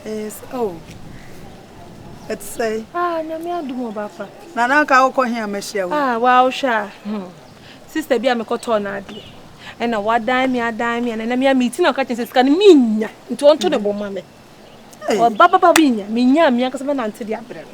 Yes, oh. Ɛte sɛ. Ah, nyame adom ɔba pa. Na na anka wokɔ he a mahyia wo. Ah, wa wohwɛ a. Hmm. Sister bi a mekɔtɔɔ no adeɛ. Ɛna wadan me adan me ɛna me a meti na ɔka kyɛn sɛ sika no menya nti ɔnto ne bɔ ma me. Ɔba baba menya menya me ankasa bɛnante de abrɛ no.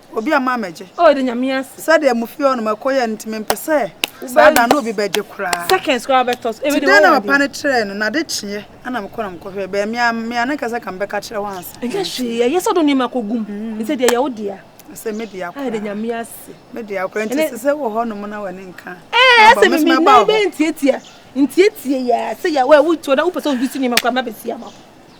Obi ama amegye. Oh, de nyame ase. Sɛ deɛ mo fie hɔ no ma ɛkɔ yɛ no nti mempɛ sɛ saa da no obi bɛgye koraa. Seconds koraa bɛtɔ so. Ti dɛn na papa no kyerɛɛ no na de kyeɛ ana mekɔ na mekɔ hwɛ bɛɛ mea mea ne kasa ka mbɛka kyerɛ hɔ ansa. Ɛnyɛ hwee ɛyɛ sɛ do nneɛma kɔ gum. Nti deɛ yɛ wo dea. Sɛ me dea koraa. Ayɛ de nyame ase. Me dea koraa nti sɛ sɛ wɔ hɔ nom na wɔ ne nka. Ɛɛ sɛ me me na bɛ ntietia ntietia yɛ sɛ yɛ wɔ wo tuo na wo pɛ sɛ wo bi si nneɛma koraa ma bɛ si ama.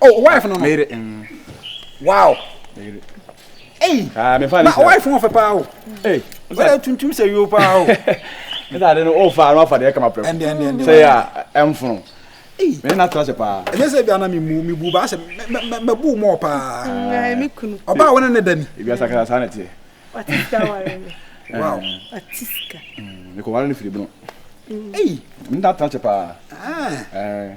Oh, wife no no. Meyere. Mm. Wow. Meyere. Ei. Ah, me fa ne. Ba wife no fe pa o. Ei. Wala tuntum se yo pa o. Esa de no o fa no fa de kama pre. Ende ende ende. Se ya emfunu. Ei. Me na tra se pa. Enye se bia na me mu me bu ba se me bu mo pa. Ngai me kunu. Oba wona ne dani. Bia sakara sa na tie. What is that one? Wow. Atiska. Me ko wala ne firi bunu. Ei. Me na tra se pa. Ah. Eh.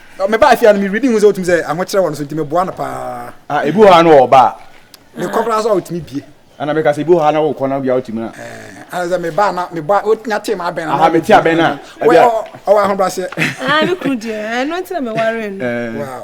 Me baa fie a no me reading hu sɛ wotumi sɛ ahokyerɛ wɔ no so nti meboa no paa. Ah ebi wɔ ha no ɔba a. Me kɔ koraa so a wotumi bie. Ana meka sɛ ebi wɔ ha na wokɔ na bia wotumi a. Eh, ana sɛ me baa na me bɔ wonya te ma abɛn na. Aha me te abɛn na. Wɔ ɔwɔ ahobraseɛ. Ah me kunu deɛ ɛno nti na me ware no. Wow.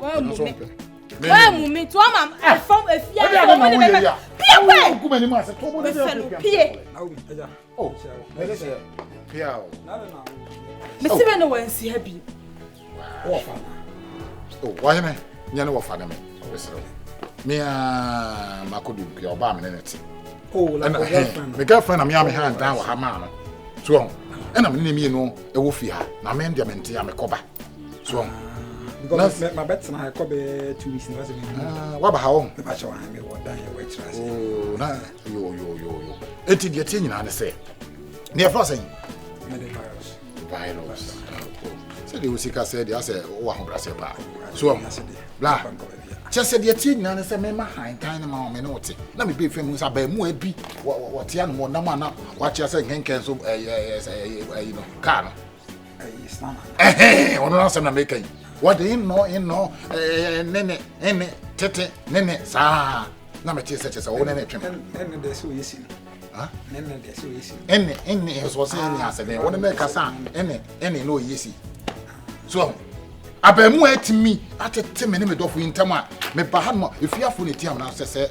Wammu me. Wammu me nti wama ɛfam efi ayɛ wɔn ne bɛbɛ. Pie wɛ. Mesɛ no pie. Mesi bɛ ne wɔn nsi ha bi. Wɔhene nyɛ ne wɔfa ne me ɔbɛsrɛ wo. Mea mako di pia ɔbaa me ne ne te. Ɛna hɛn me girlfriend na mea me ha ndan wɔ ha maa no. So ɛna me ne ne mmienu ɛwɔ fi ha na me deɛ me nte a mekɔba. so ɔn. because mɛ mɛ bɛ tena ɛkɔ bɛ two weeks na wasa mi. wa ba ha wɔn. mɛ ba kyɛ wɔn mi wɔ dan yɛ wɔ ɛkyerɛ ase. ooo na yo yo yo yo eti deɛ tie nyinaa ne sɛ ne yɛ fɔ sɛn. mɛ de virus. virus sɛ de o sika sɛ de asɛ o ahobrasɛ paa so ɔn bla kyɛ sɛ deɛ tie nyinaa ne sɛ mɛma hantan ne ma wɔn ne wɔte na mi bɛ fɛn mu nsa bɛn mu ɛbi wɔte anum wɔnam ana wɔakyɛ sɛ nkɛnkɛn so ɛyɛ ɛyɛ ɛyɛ ɛyɛ no kaa no. ɔno no asɛm na meka yi wɔde nnɔ nnɔ ne ne ne tete ne ne saa na mete sɛ kyɛ sɛ wo ne ne twem ɛne ɛne ɛsɔ sɛ ɛne asɛ dɛn wo ne ne kasa ɛne ɛne na ɔyɛ si so abaamu a ɛtumi atete me ne me dɔfo yi ntam a meba ha no ma ɛfiafo ne tiam no sɛ sɛ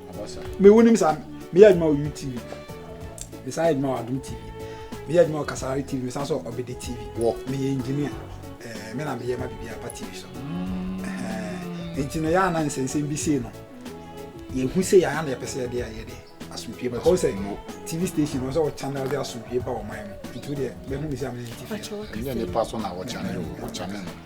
me wonim saa meyɛ adwuma wɔ utv mesan yɛ adwuma wɔ adom tv meyɛ adwuma wɔ kasare tv mesan sɛ ɔbɛde tv wɔ meyɛ engineer eh, me na meyɛ ma biribi aba tv so eh, nti no yɛ ana nsɛnsɛm bi sei no yɛhu sɛ yɛa na yɛpɛ sɛ yɛde ayɛ de asomdwe ba hɔ sɛ tv station wɔ sɛ wɔ channel de asomdwe ba wɔ man mu nti wodeɛ bɛhu me sɛ amene tv ɛnyɛ nipa so na wɔ channel wɔ channel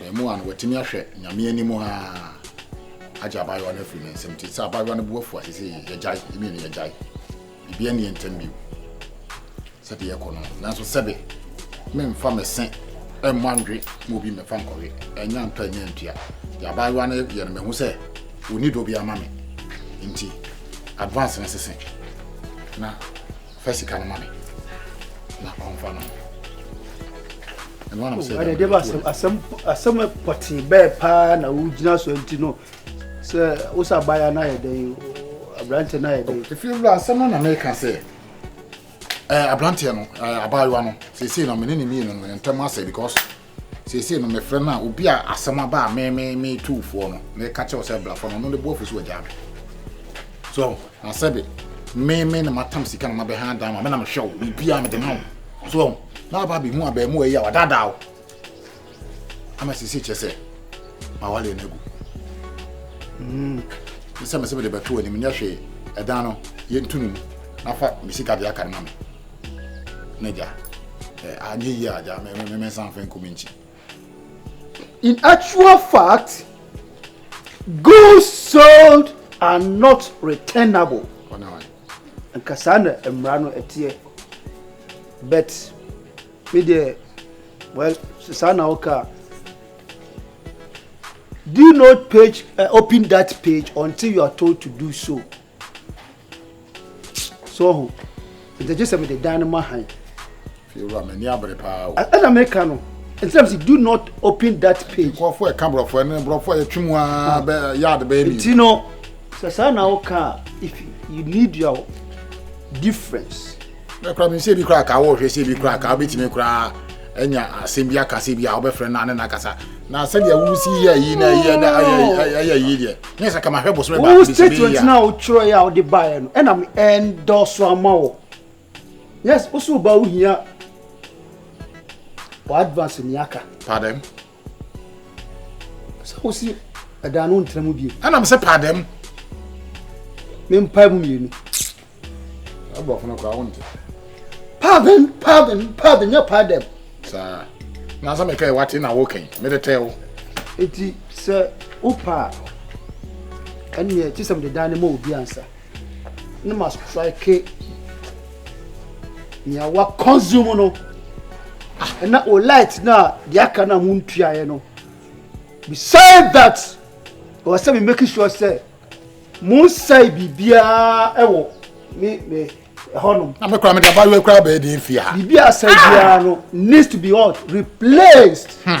Abaamua no watumi ahwɛ Nyame anim aa agye abaayewa no afiri ne nsam nti sɛ abaayewa no bo afu a seesei yɛgyae, yɛ mmienu yɛgyae. Biribiara nni yɛn ntam bio sɛdeɛ ɛrekɔ no. Nanso sɛbe memfa me se mmɔ anwe ma obi mmɛfa nkɔwe, ɛnyɛ antɔ ɛnyɛ antua. Deɛ abaayewa no yɛ no mahu sɛ ɔnni dɔ biara ma me nti advance no sese na fa sika no ma me na ɔmfa no ɛdeɛ ba asɛm pɔtee bɛɛ paa na wogyina so nti no sɛ wo sɛ abaya no ayɛ dɛn aberanteɛ no ayɛ dɛn ɛfie wura asɛm no na meka sɛ aberanteɛ no abaayewa no seesei no mene ne mmienu no ntam asɛ because Seesei no mefrɛ no a, obi a asɛm aba a me me me tu foɔ no, meka kyerɛ wo sɛ bra fa no, ɔno ne bo afu so wagyaa me. So, na sɛbe me me na matam sika na mabɛha adan ma me na mehwɛ wo, biribiara mede ma wo. So, na aba abɛhu abaamuwa yi a wadaadaa wo. Ama seesei kyerɛ sɛ mawale no agu. Mm. Sɛ mesɛ mede bɛto anim nyɛ hwee, ɛdan no yɛntu no mu na fa me sika de aka no ma me. N'agya, anyɛ yie agya, mɛsan fɛ nkumi nkyi. In actual fact, goods sold are not returnable. Nka saa na mmara no ɛteɛ. But, me deɛ, well, saa na woka. Do not page, uh, open that page until you are told to do so. so ɔho nti gye sɛ mede dan no ma han fiewura m'ani abere paa o ɛna meka no nsɛm si do not open that page nkurɔfoɔ ɛka borɔfo ɛne borɔfo a yɛtwe mu aa bɛ yaade bɛyɛ mi nti no sɛ saa na woka a if you need your difference Me koraa menim sɛ ebi koraa kaa wɔhwɛ sɛ ebi koraa kaa wobɛtumi koraa anya asɛm bi aka sɛ bi a wobɛfrɛ no ne no akasa na sɛdeɛ wosi yɛ yi na ɛyɛ na ɛyɛ yi deɛ nyɛ sɛ kama hwɛ bosome baako bi sɛ statement no a wotwerɛeɛ a wode baeɛ no ɛna me ɛndɔso ama wɔ yes wo so woba wohia wɔ advance ni aka pardon sɛ wosi ɛdan no ntra mu bio ɛnam sɛ paa dɛm mempae mu mmienu aborɔfo no koraa wonte paaden paaden paaden nyɛ paa dɛm saa nansa mekae wate na wokan mede tɛɛ wo enti sɛ wopa a ɛneɛ kye sɛ mede dan no ma obi ansa Na ma strike nea wa consume no ah, na o light no a deɛ aka no a montuaeɛ no beside that ɛwɔ sɛ me make sure sɛ monsɛe biribiara wɔ me me ɛhɔnom. na mekora mede abayewa kora bɛɛ deɛ mfie ha biribi asɛe biara no needs to be what replaced hmm.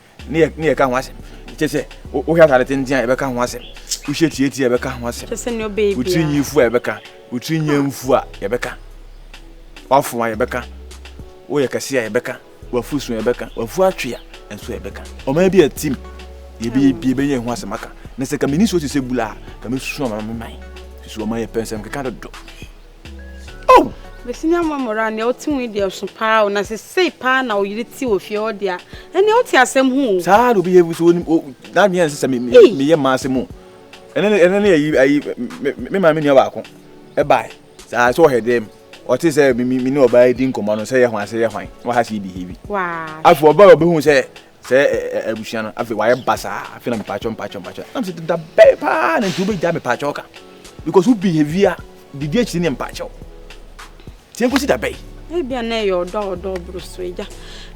ne yɛ ne yɛka ho asɛm kyɛ sɛ wohwɛ atade tenten a yɛbɛka ho asɛm wohyɛ tietie a yɛbɛka ho asɛm wotiri nyi fu a yɛbɛka wotiri nya mfu a yɛbɛka wafo a yɛbɛka woyɛ kɛse a yɛbɛka wafu so yɛbɛka wafu atwe a nso yɛbɛka ɔman bi a tim yɛbɛyɛ bi yɛbɛnya ɛho asɛm aka na sɛ ka meni so te sɛ bula a ka mɛsusu ama me man susu ɔman yɛ pɛ nsɛm keka dodo Oh! Mesi nya mwa mora nea ɔte ho deɛ ɔso paa o na sɛ sei paa na ɔyere te wɔ fie hɔ deɛ ɛnea wote asɛm ho o. Saa na obi yɛ so onim o na nea ɛnsɛ sɛ me me yɛ mmaa asɛm o. Ɛnɛ ne ɛnɛ ne ayi ayi me maame nua baako ɛbae saa sɛ ɔhɛ dɛm ɔte sɛ me me ne ɔbaa di nkɔmɔ no sɛ yɛ ho asɛ yɛ hwan na waha sɛ yɛ behave. Afei ɔbaa ɔbɛhu sɛ Sɛ ɛ ɛ ɛ abusua no afei wayɛ basaa afei na mepaakyɛw mpaakyɛw mpaakyɛw nam sɛ deda bɛn paa na nti wobɛgya mepaakyɛw ka because wo behavior didi akyiri ne mpaakyɛw tie nkosi da bɛn. ebia na ɛyɛ ɔdɔ a ɔdɔ ɔboro so agya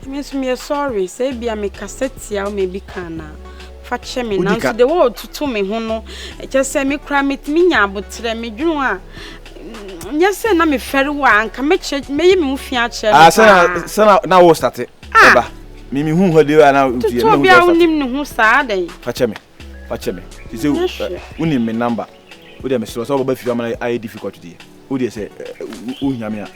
ɛmi nso meyɛ sɔre sɛ ebia mekasa tia wo ma ebi ka anaa fa kyɛ me nanso de wɔɔtoto me ho no kyɛ sɛ me koraa metumi nya aboterɛ medwene ho a mm, nyɛ sɛ na mefɛre wo a anka mɛkyerɛ mɛyɛ me ho fi akyerɛ no ah, paa sɛ na wo state ɛba ah. Me me hu hɔ de ana otu yɛ na hu bia wonim ne ho saa dɛn fa kyɛ me fa kyɛ me te sɛ wonim me number wo de me srɛ sɛ wobɛba fie ama na ayɛ difficult deɛ wo deɛ sɛ wohia me a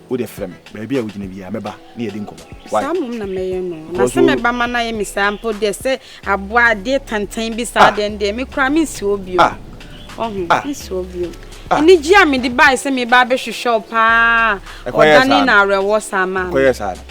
wo de frɛ me baabi a wogyina biara mɛba ne yɛde nkɔmmɔ saa mmom na mɛyɛ no na sɛ mɛba ma no ayɛ me saa mpo deɛ sɛ aboa adeɛ tantan bi saa deɛ deɛ me koraa mensi hɔ bio ɔho mensi hɔ bio anigye a mede bae sɛ meba abɛhwehwɛ wo paa ɔdane na awerɛwɔ saa maa me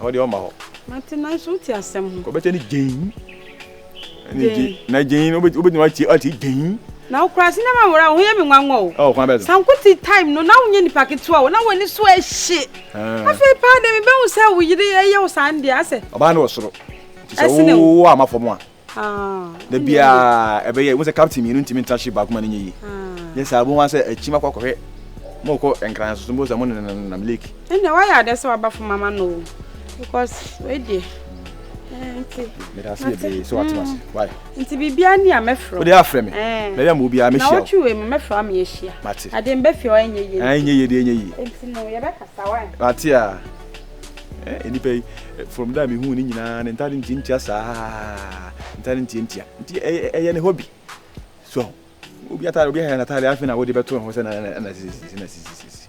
Ɛhɔ deɛ ɔmma hɔ. Mate nanso wote asɛm ho. Ɔbɛkyɛ ne gyein. Ɛne gye na gyein no wobɛtumi atie atie gyein. Na wo koraa sinema nwura wo ho yɛ me nwanwa o. Oh kwan bɛn so. Sankute time no na wonyɛ nipa ketewa o na w'ani so ɛhye. Afei paa deɛ mebɛhu sɛ wo yere ɛyɛ wo saa no deɛ asɛ. Ɔbaa no wɔ soro nti sɛ wo wo amma fam a. da biara ɛbɛyɛ wo sɛ captain mmienu ntumi ntra ship baako ma no nyɛ yie yɛ saa bɛhu sɛ akyim akɔ akɔhwɛ mokɔ nkran so so mbɔ sɛ mo nenam lake ɛnna wayɛ adɛ sɛ waba fam ama no o because wei deɛ nti meda ase bebree sɛ wate ase why nti biribiara ni a mɛfrɛ wode afrɛ me na yɛ ma obiara mɛhyia na wotwe wei mu mɛfrɛ ama yɛhyia mate ade mbɛfie ɔyɛ nyɛ yie ɛnyɛ yie deɛ ɛnyɛ yie nti no yɛbɛkasa why mate a Eh, nipa yi, eh, from da mehuu ne nyinaa ne ntade ntiantia saa, ntade ntiantia. Nti ɛyɛ ne hobby. So, obi atade, obi ahɛ n'atade afei na wode bɛto ho sɛ na na na sisi na sisi sisi.